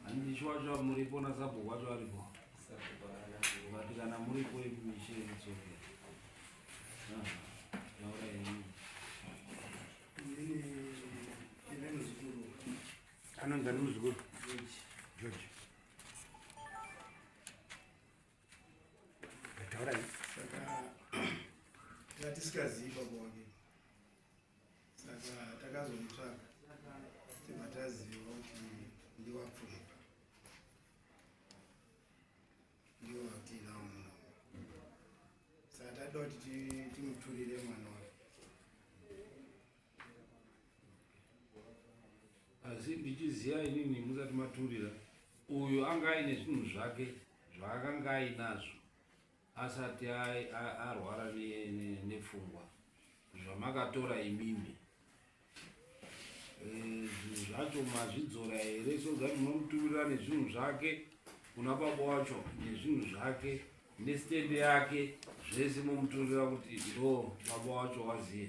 Handishi wacho muripo na sabhuku wacho aripo. But kana muripo imishe it's okay. Ah, taura yenyu. Anonzi ani muzukuru? George. Tisikazii baba wake saka takazomutsvaga tibva taziva kuti ndiwapfupa ndiwo vatinawo mwana saka tatoda kuti timuturire mwana wake asi ndichiziva inini musati maturira uyu anga aine zvinhu zvake zvaakanga ainazvo asati arwara nepfungwa zvamakatora imimi eh, zvinhu zvacho mazvidzora here soza munomuturira nezvinhu zvake kuna baba wacho nezvinhu zvake nestende yake zvese momuturira kuti ndo baba wacho waziye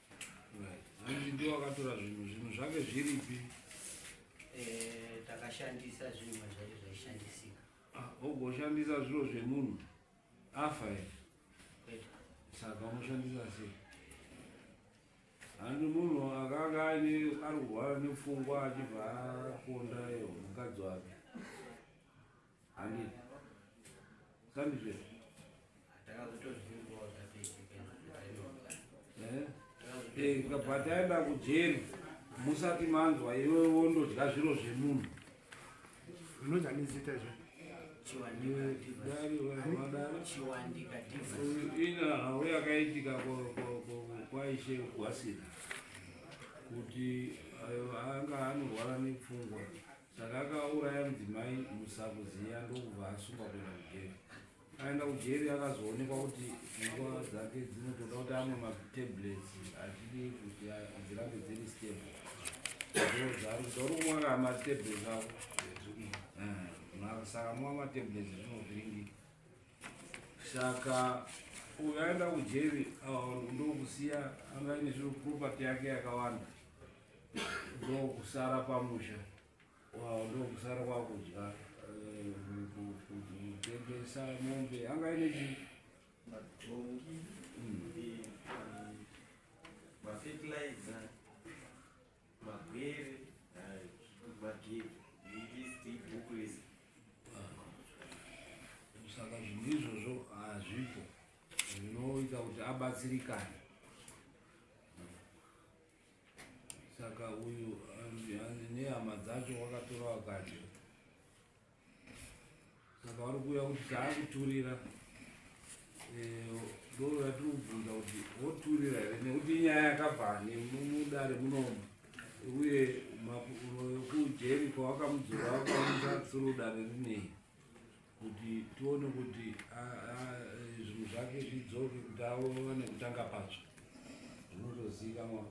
hanzi ndiwo akatora zvinhu zvinhu zvake zviripi eh, takashandisa zvinhu mazvake zvaishandisika ah, ogoshandisa zviro zvemunhu afa e saka unoshandisa sei handi munhu akanga aine ari kurwara nepfungwa achibva akonda iyo mukadzi wake Handi. Sandi zve. Takazotozvingoa eh, kujeri musati manzwa iwe wondodya zviro zvemunhu unodya nezita izvo ina hau yakaitika kwaishe gwasira kuti eh, anga anorwara nepfungwa Saka akauraya mudzimai musakuziya ndokubva asungwa kuenda kujeri. Aenda kujeri akazoonekwa kuti pfungwa dzake dzinotoda kuti amwe matablets achidi kuti dzirambe dziri stable. Ndozvaari kuti uri kumwa kaa matablets ako eh, saka mwa matablets zvinovhiringi saka uyu aenda kujeri ah, ndokusiya anga ine zviro property yake yakawanda ndokusara pamusha wavo ndokusara kwakudya eh, kutengesa mombe anga ine chi matongi hmm. mafertilizer magwere magebe ilist ibhuku rese saka zvinhu izvozvo hazvipo zvinoita kuti abatsirikane Saka uyu hanzi nehama dzacho wakatora wakadya. Saka wari kuuya kuti taakuturira ndoo eh, yatiri kubvunza kuti woturira here nekuti inyaya yakabva nemudare munomu uye kujeri kwawakamudzora wakamusa tsuru dare rinei kuti tione kuti zvinhu zvake zvidzoke kuti aone kutanga patsva zvinotozivikanwa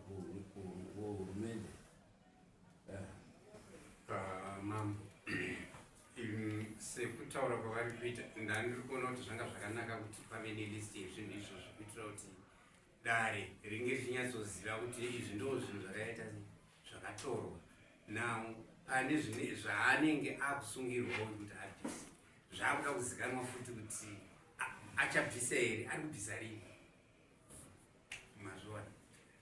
kuhurumende mambo sekutaura kwavari kuita ndandiri kuona kuti zvanga zvakanaka kuti pave nelist yezvinhu izvozvo kuitira kuti dare ringe richinyatsoziva kuti izvi ndoo zvinhu zvakaita zvakatorwa now pane zvine zvaanenge akusungirwawo kuti abvise zvaakuda kuzikanwa futi kuti achabvisa here ari kubvisa rini mazviona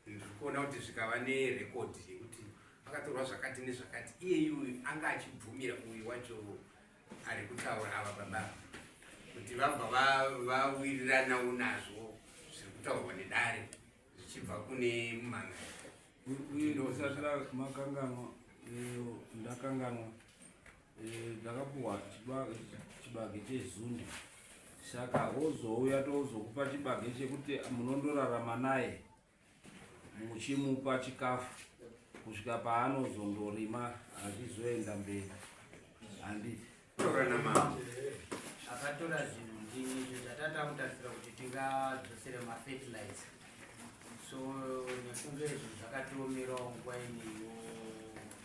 ndiri kuona kuti zvikava nerekodhi yekuti akatorwa zvakati nezvakati iye yuyu anga achibvumira uyu wacho ari kutaura ava baba kuti vabva vawiriranawo nazvo zviri kutaurwa nedare zvichibva kune mumhan'ari uyu ndosatira makanganwa eh, ndakanganwa eh, ndakapuhwa chibage chezundi saka wozouya tozokupa chibage chekuti munondorarama naye muchimupa chikafu kusvika paanozondorima azvizoenda mberi handiti torana mambo akatora zvinhu ndini izvo zvatata kutarisira kuti tingadzosere mafertilizer so nekunge zvinhu zvakatiomerawo nguva ineyo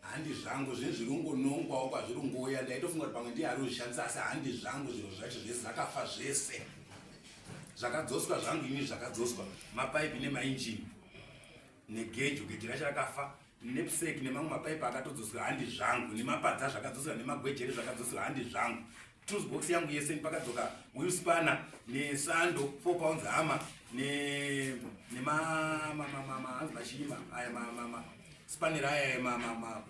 handi zvangu zvinhu zviri kungonongwawo kwazviri kungouya ndaitofunga kuti pamwe ndiye ari kuzvishandisa asi handi zvangu zvinhu zvacho zvese zvakafa zvese zvakadzoswa zvangu ini zvakadzoswa mapaipi nemainjini negejo gejo racho rakafa nepsek nemamwe mapaipi akatodzoswa handi zvangu nemapadza zvakadzoswa nemagwejere zvakadzoswa handi zvangu tools box yangu yese pakadzoka wheel spanner nesando 4 pounds hammer ne nema ma ma ma ma hanzi mashima aya ma ma ma spanner aya ma ma ma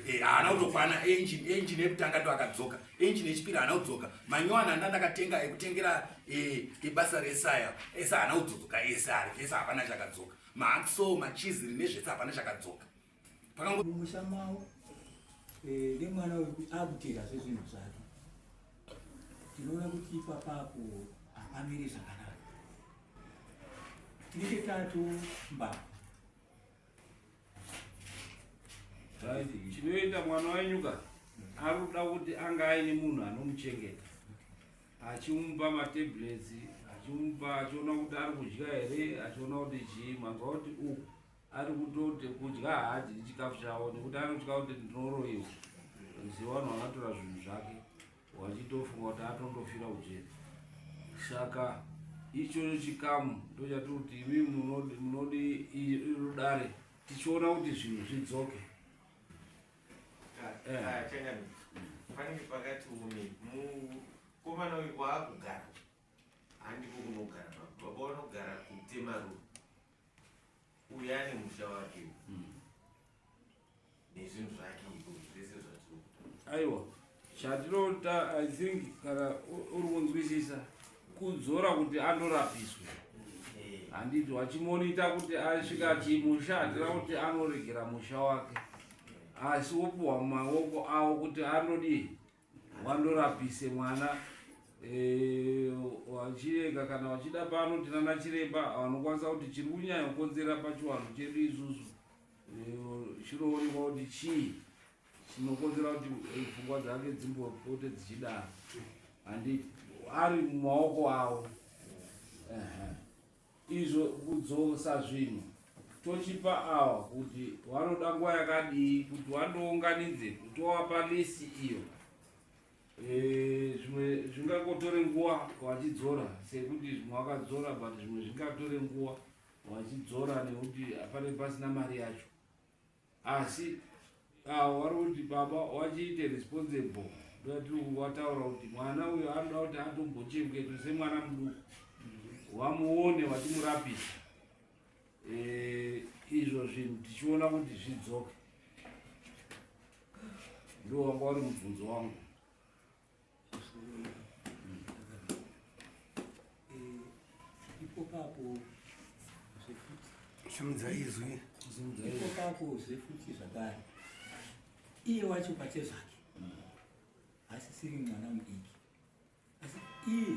eh ana utokwana engine engine yekutanga ndo akadzoka engine yechipiri ana udzoka manywana anda ndakatenga ekutengera eh ibasa resaya esa ana udzoka esa ari esa hapana chakadzoka maxo machizi nezvese hapana chakadzoka pakangomusha mavo eh, nemwana wekuti akutera zvezvinhu zvake tinoona kuti ipapapo hapamiri zvakanaka tinenge tato mbavha chinoita mwana wenyuka ari kuda kuti anga aine munhu anomuchengeta achimupa matablets achimupa achiona kuti ari kudya here achiona kuti chii manzwa kuti u ari kutoti kudya haadyi chikafu chavo nekuti anotya kuti ndinoroiwa ziva vanhu vakatora zvinhu zvake wachitofunga kuti atondofira kujeri saka ichocho chikamu ndochati kuti imi munodi irudare tichiona kuti zvinhu zvidzoke panenge pakati umi mukomana uyu waakugara handiko kunogara baba vanogara kutemaruu uyu ane musha wake hmm. nezvinhu zvake iko zvese zvatinokuta aiwa chatinoda i think kana uri kunzwisisa kudzora kuti anorapiswa eh. handiti wachimonoita kuti asvika ati musha hatira kuti anoregera musha wake asi wopiwa maoko avo kuti anodii wandorapise mwana eh, wachirega kana wachida pano tinana chiremba vanokwanisa kuti chiri kunyanya kukonzera pachiwanhu chedu isusu eh, chinoonekwa kuti chii chinokonzera kuti eh, pfungwa dzake dzimbopote dzichidaro handi ari mumaoko avo izvo kudzosa zvinhu tochipa awa kuti wanoda nguva yakadii kuti wandounganidze kutowapa lisi iyo eh, zvimwe e, zvingakotore nguva wachidzora sekuti zvimwe wakadzora but zvimwe zvingatore nguva wachidzora nekuti hapane pasina mari yacho asi avo vari kuti baba wachiite responsible ndati wataura kuti mwana uyo anoda kuti atombochengete semwana muduku wamuone wachimurapisa eh, izvo zvinhu tichiona kuti zvidzoke ndo wanga wari mubvunzo wangu simudza izwi ikokapo zve futi zvakare iye wacho pache zvake asisiri mwana mudiki asi iye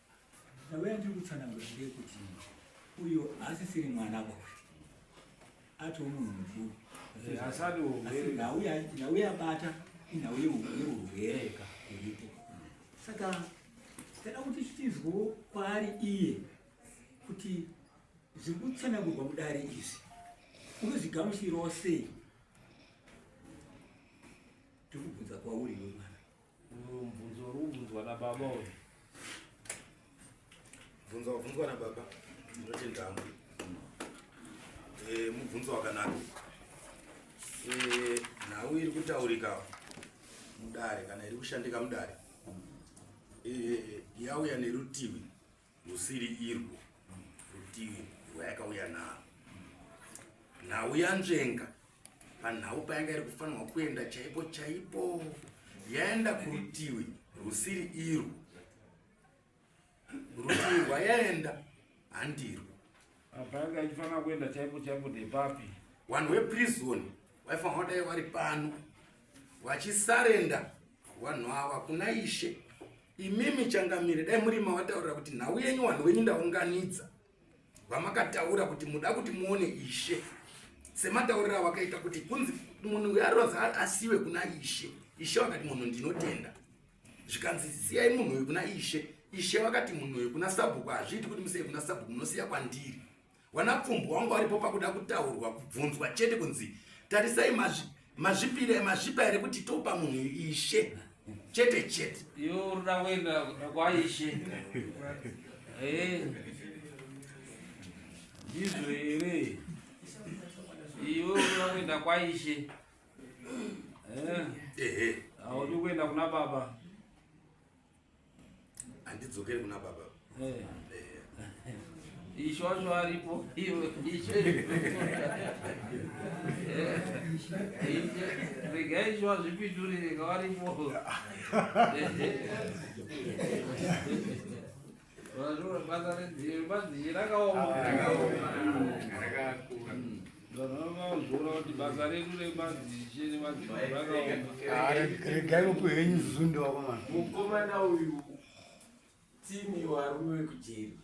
Nyaya yandiri kutsanangura ndeyekuti uyo haasisiri mwana boka atiwo munhu mukuru nhau yabata inhau yeurwere iripo saka tada kuti tizwewo kwaari iye kuti zviri kutsanangurwa mudare izvi unozvigamushirawo sei ndikubvunza kwauri wemwana Mubvunzo uri kubvunzwa nababa uyu. Mubvunzo wabvunzwa nababa ndinotenda hangu. Eh, mubvunzo wakanaka. Eh, nhau iri kutaurika mudare kana iri kushandika mudare eh, yauya nerutivi Rusiri irwo rutivi rwayakauya naro. Nhau yanzvenga panhau payanga iri kufanirwa kuenda chaipo chaipo yaenda kurutivi rusiri irwo rutivi rwayaenda handirwo apa yanga ichifanira kuenda chaipo chaipo ndepapi vanhu veprison vaifanira kudai vari pano vachisarenda vanhu ava kuna ishe imimi changamire dai muri mavataurira kuti nhau yenyu vanhu venyu ndaunganidza vamakataura kuti muda kuti muone ishe semataurira vakaita kuti kunzi munhu uyo aronzi asiwe kuna ishe ishe vakati munhu ndinotenda zvikanzi siyai munhu uyu kuna ishe ishe vakati munhu uyu kuna sabhuku hazviiti kuti musei kuna sabhuku munosiya kwandiri wana pfumbu wangu waripo pakuda kutaurwa kubvunzwa chete kunzi tarisai mazvipire mazvipa here kuti topa munhu ishe chete chete yo ruda kuenda kwaishe eh. ndizvo here iyo ruda kuenda kwaishe Eh. Ehe. Audi ah, kuenda kuna baba. Andidzokere kuna baba. Eh. Eh. Ishosho aripo iwe ishe. Eh. Rega isho azvipindurire kawaripo. regai mupi henyu zundo wakomana mukomana uyu timi warume wekujeri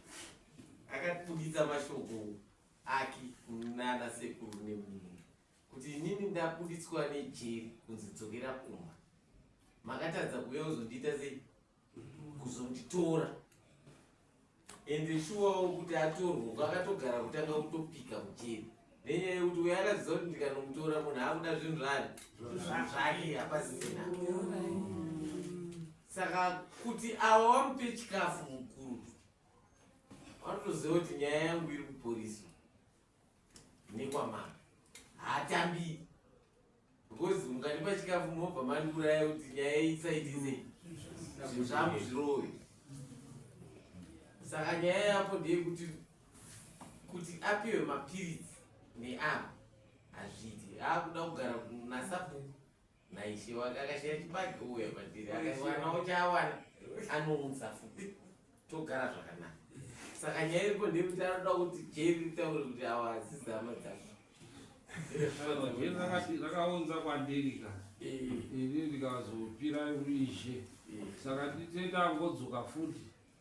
akatibuditsa mashoko ake kunana sekuru nemunhu kuti inini ndabuditswa nejeri kunzi dzokera kumba makatadza kuuya kuzondiita sei kuzonditora ende shuwawo kuti atorwe kwakatogara kutanga kutopika kujeri nenyaya yekuti uyo akaziva kuti ndikanomutora munhu akuda zvinhu zvani zvake hapasisina saka kuti ava wamupe chikafu mukuru vanotoziva kuti nyaya yangu iri kuporiswa nekwamana haatambi because mukandipa chikafu mobva mandiuraya kuti nyaya isaitise zvinhu zvangu zvirove saka nyaya yapo ndeyekuti kuti apiwe mapiritsi neapo hazviiti aakuda kugara nasabhuku Naishi wakakashira chibage uya patiri akawana uchawana anounza futi togara zvakanaka saka nyaya iripo ndekuti anoda kuti jeri ritaure kuti awa hadzidzi hama dzako rakaunza kwandiri ka eh. ini ndikazopira urishe eh. saka nditenda angodzoka futi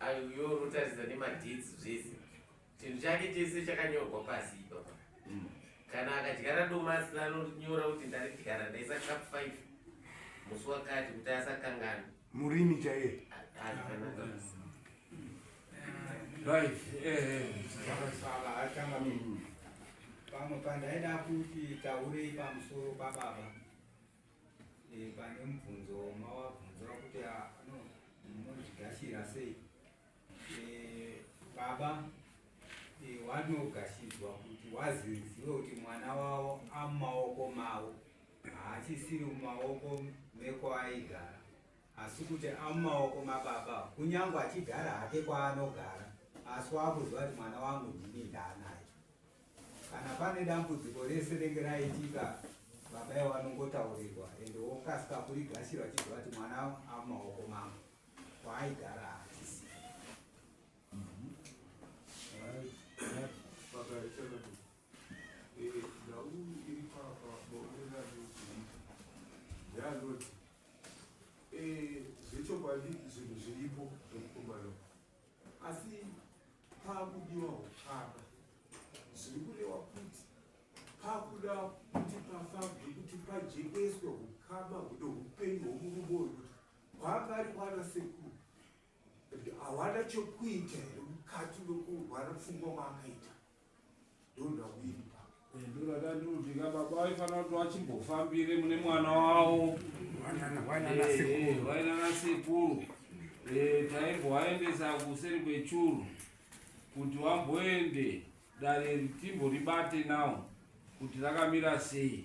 Ayo uyo unotaridza nemadeeds zvese chinhu chake chese chakanyorwa pasi ipapa mm. kana akadyara domasi anonyora kuti ndaridyara ndaisa cup five musi wakati kuti asakangana murimi chaiye pamwe pandaida kuti taurei pamusoro pababa pane mubvunzo mawabvunza kuti munozvigashira sei baba wanogashidzwa kuti wazizive kuti mwana wavo amumaoko mavo haachisiri mumaoko mekwaaigara asi kuti amumaoko mababa kunyange achigara hake kwaanogara asi wakuziva kuti mwana wangu ndini ndaanaye kana pane dambudziko rese renge raitika baba ivo vanongotaurirwa ende wokasika kurigashira vachibva vati mwana amumaoko mangu kwaaigara hatisi zvechokwadi zvinhu zviripo zvekukumbana asi pakudiwa huchapa zviri kurewa kuti pakuda kuti pafabve kuti pajekeswe hukama huno hupenyu hwomurume uyu kuti kwanga ari kwana sekuru hawana chokuita here mukati nokurwara pfungwa kwaakaita vachimbofambire mune mwana wavo vainana sekuru taimbovaendesa kuseri kwechuru kuti vamboende dare ritimbo ribate nawo kuti rakamira sei